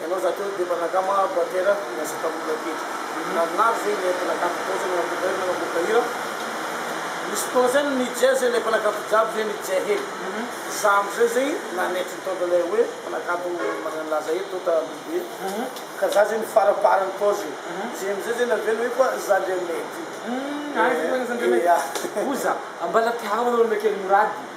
Ianao za teo dia mba naka ma batera niasa tamina kely narinary zay ilay mpanakafy tao zay nanaboaka hira nanaboaka hira nisy fotoana zay nijea zay ilay mpanakafy jiaby zay nijea hely za amizay zay nanetry ny tonta ilay hoe mpanakafy magnano laza eto tonta lehibe ka za zay nifaraparany tao zay zay amizay zay navela hoe koa za ndray mety Aiza ndray mety? Oza ambala tianao ilay olona kely morady.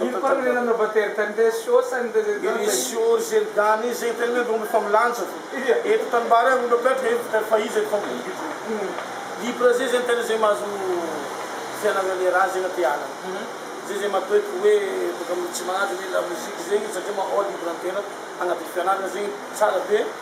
Ino koa no nanova tery tany Resiôsa ny resetan zay. Irisy ô ry Zerdany e, zay tena mba omby fa milanja fa eto tanimbary aho mba miatrika eto fa fa iza eto fa mivontovonto libra zay zay ny tena zay mahazo fianagnagne raha zay na te hanagna zay zay matoeky hoe boka tsy manaja ny lamoziky zegny satria maha libra ny tena agnatin'ny fianaragna zegny tsara be.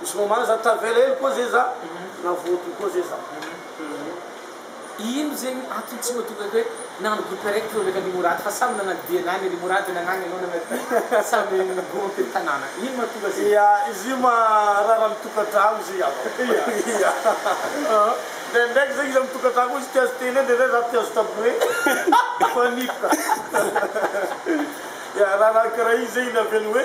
Misy moment za tavela hely koa zay za na voadio koa zay za Ino zegny antony tsy mahatonga ka hoe nagnano groupe araiky teo ndraiky an-dry Mourad fa samy nagnano dianany an-dry Mourad nagnany anao nagnano diany samy groupe an-tanàna ino mahatonga zegny? Ia izy io marary am tokantragno izy io ia ndraindraiky zegny izy am tokantragno ao izy mpihazo télé ndraindray za mpihazo tabouret mifanipika ia raharaha karaha io zegny no avela hoe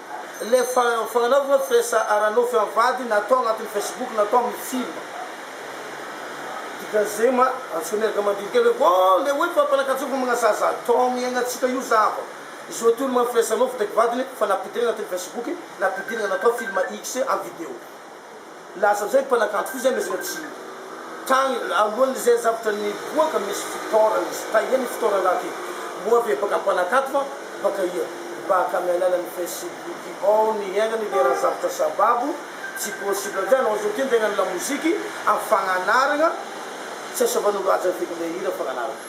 Ilay fanaovana hoe firesa ara-nofy amin'ny vady na atao anatin'ny Facebook na atao amin'ny film. Dikan'izay ma, antsoy miaraka mandini kely hoe vao ilay hoe fampanakatsofana amina zaza atao amin'ny iainantsika io zava. Izao ity olona manao firesa-nofy ndraiky vadiny fa nampidirina anatin'ny Facebook, nampidirina natao film X amin'ny video. Lasa amin'izay ny mpanakanto koa izay miezaka tsy tany alohan'ny izay zavatra niboaka misy fitaorana izy taia ny fitaorana raha ty moa ve baka mpanakanto va baka ia baka amin'ny alalan'ny facebook ao ny hiainany ilay raha zavatra sababo tsy possible amin'izay anao izao ty ndray na ny lamoziky amin'ny fagnanarana tsy asavan'olo haja ny vidin'ilay hira fagnanarana.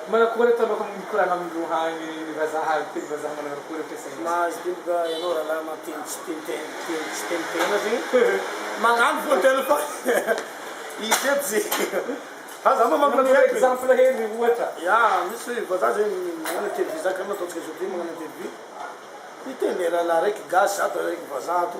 Manakory ataonao ka mikorana amin'ny lohan'ny vazaha ary teny vazaha manarakory ampiasaina izy. Mahazo diloka ianao ralahy mampiteny tsy teny teny tsy teny tena zegny magnano fony tena fa izy eto zegny fa za mamaky Magnome lampiaiko e exemple hely ny ohatra. Ya misy vazaha zegny magnano interview za kara nataontsika zao ty magnano interview hiteny ralahy raiky gasy ato raiky vazaha ato.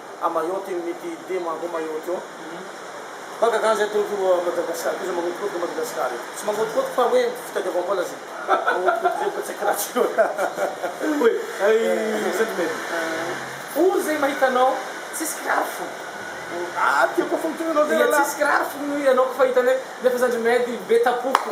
Amayotte io mety be manko Mayotte io fa gaga zay toloko io Madagascar koa zay magnodikotika Madagascar io tsy magnodikotika fa hoe fitadiavam-bola zay magnodikotika zay fa tsy haiko raha tsy hoe aiza zany mety ory zay mahita anao tsisy kiraro fona ah tiako fona toy anao zay raha lahy tsisy kiraro fona ianao koa fa hitany hoe nefa zany ry medy be tapoko.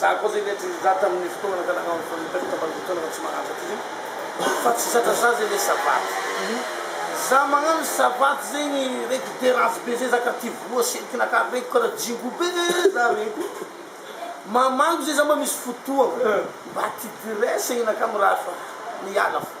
Za koa zay le try za tamin'ny fotoana ka nagnao an'itony interview tamin'ny fotoana tsy mahantra ty zay fa tsy zatra za zay le savaty za magnano savaty zegny reko de ratsy be zay za kara ty voa sentiky naka reko kara jingo be za reko mamaly zay za mba misy fotoagna mba ty ty resegny naka mirary fa miala fo.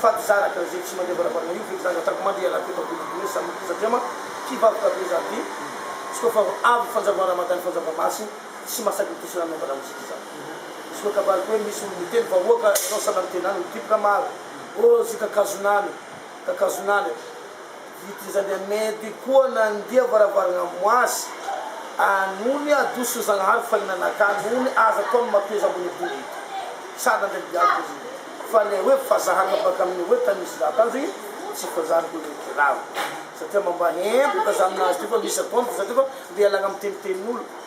Fa tsy zanaka izay tsy mandeha varavarana io feky zany ataoko mandeha ialahy teto ampita be sa mody satria ma kibaboka be zany by izy koa fa avy fanjava ramadany fanjava masy tsy masaky mitosy rano mangala mozika zany izy koa kabariko hoe misy olo miteny vahoaka ianao sanany tenany mikiboka maro oh zy kakazonany kakazonany I Trizandria Mehdi koa nandia varavarana am azy a nony adosony Zagnahary fahinana ka nony aza ataony matoa izy ambony ambony sady nandray bianco ry fa le hoe fa zahana baka aminy hoe tany misy za tanjo i tsy fa zany ko le kiraro satria mamba hempo ka za aminazy ty fa misy akony fa satria fa le ialagna am tenitenolo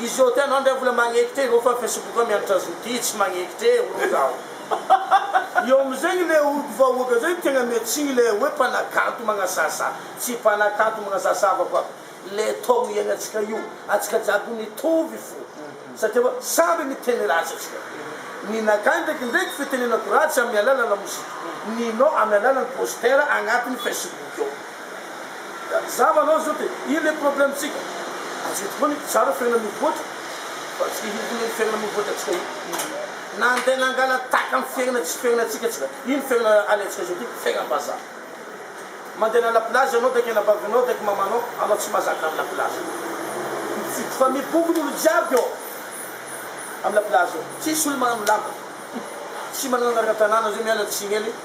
Izy ô tena ndray mbola magneky tena ô fa facebook mianatra zo ty tsy magneky te olo zaho. Eo amzegny le olo vahoaka zay tegna miatsigny le hoe mpanakanto magnasasa tsy mpanakanto magnasasa avako aby le taogno iaignantsika io antsika jiaby mitovy fo satria hoe samby miteny ratsy atsika ninakay ndraiky ndraiky fitenenako ratsy amy alala lamozika ninao amy alalany poster agnatiny facebook eo Zava anao zao de ino le problème tsika? Ajoky foana ito tsara fiainana mivoatra fa tsy ino koa iny fiainana mivoatra tsika iny na andeha nangala tahaka ny fiainana tsy fiainana tsika tsika iny fiainana alentsika zao ty fiainana mbazaha mandeha na la plage anao daiky anabavinao daiky mamanao anao tsy mazaka am la plage fa mibokona olo jiaby ao am la plage ao tsisy olo manano lamba tsy manana anarana tanàna zao miala tsiny any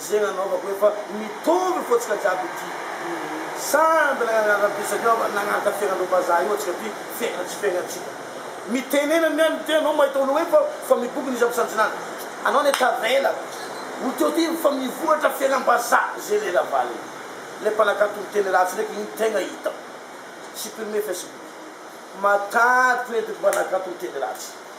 Izay nanaovako efa mitovy fotsika jiaby ity Samy mbola nanaraka piso aty aho fa nanaraka feran'ireo vazaha io antsika aty Fera tsy fera antsika Mitenena ny an'ny tena anao mahita olona hoe fa fa miboky ny isan'ny mpisanjinana Anao anie tavela Olo teo ty fa mivoratra feram-bazaha Izay ilay ravalo Ilay mpanakanto miteny ratsy ndraiky iny tegna hitako Supprimer Facebook Matahiko ireto mpanakanto miteny ratsy.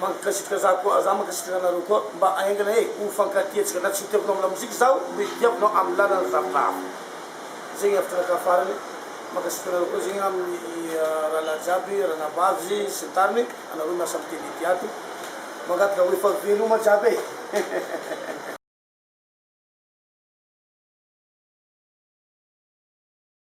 Mankasitrika za koa za mankasitrika anareo koa mba aingana he ho fankatia tsika na tsy ho tiako no am lamozika zaho mba hifidiako no am lalana zavatra hafa zegny hevitra anakahy farany mankasitrika anareo koa zegny am rahalahy jiaby ranabavy sy ny tariny anareo miasa am tele ty ato mangataka ho efa veloma jiaby e hehehehe.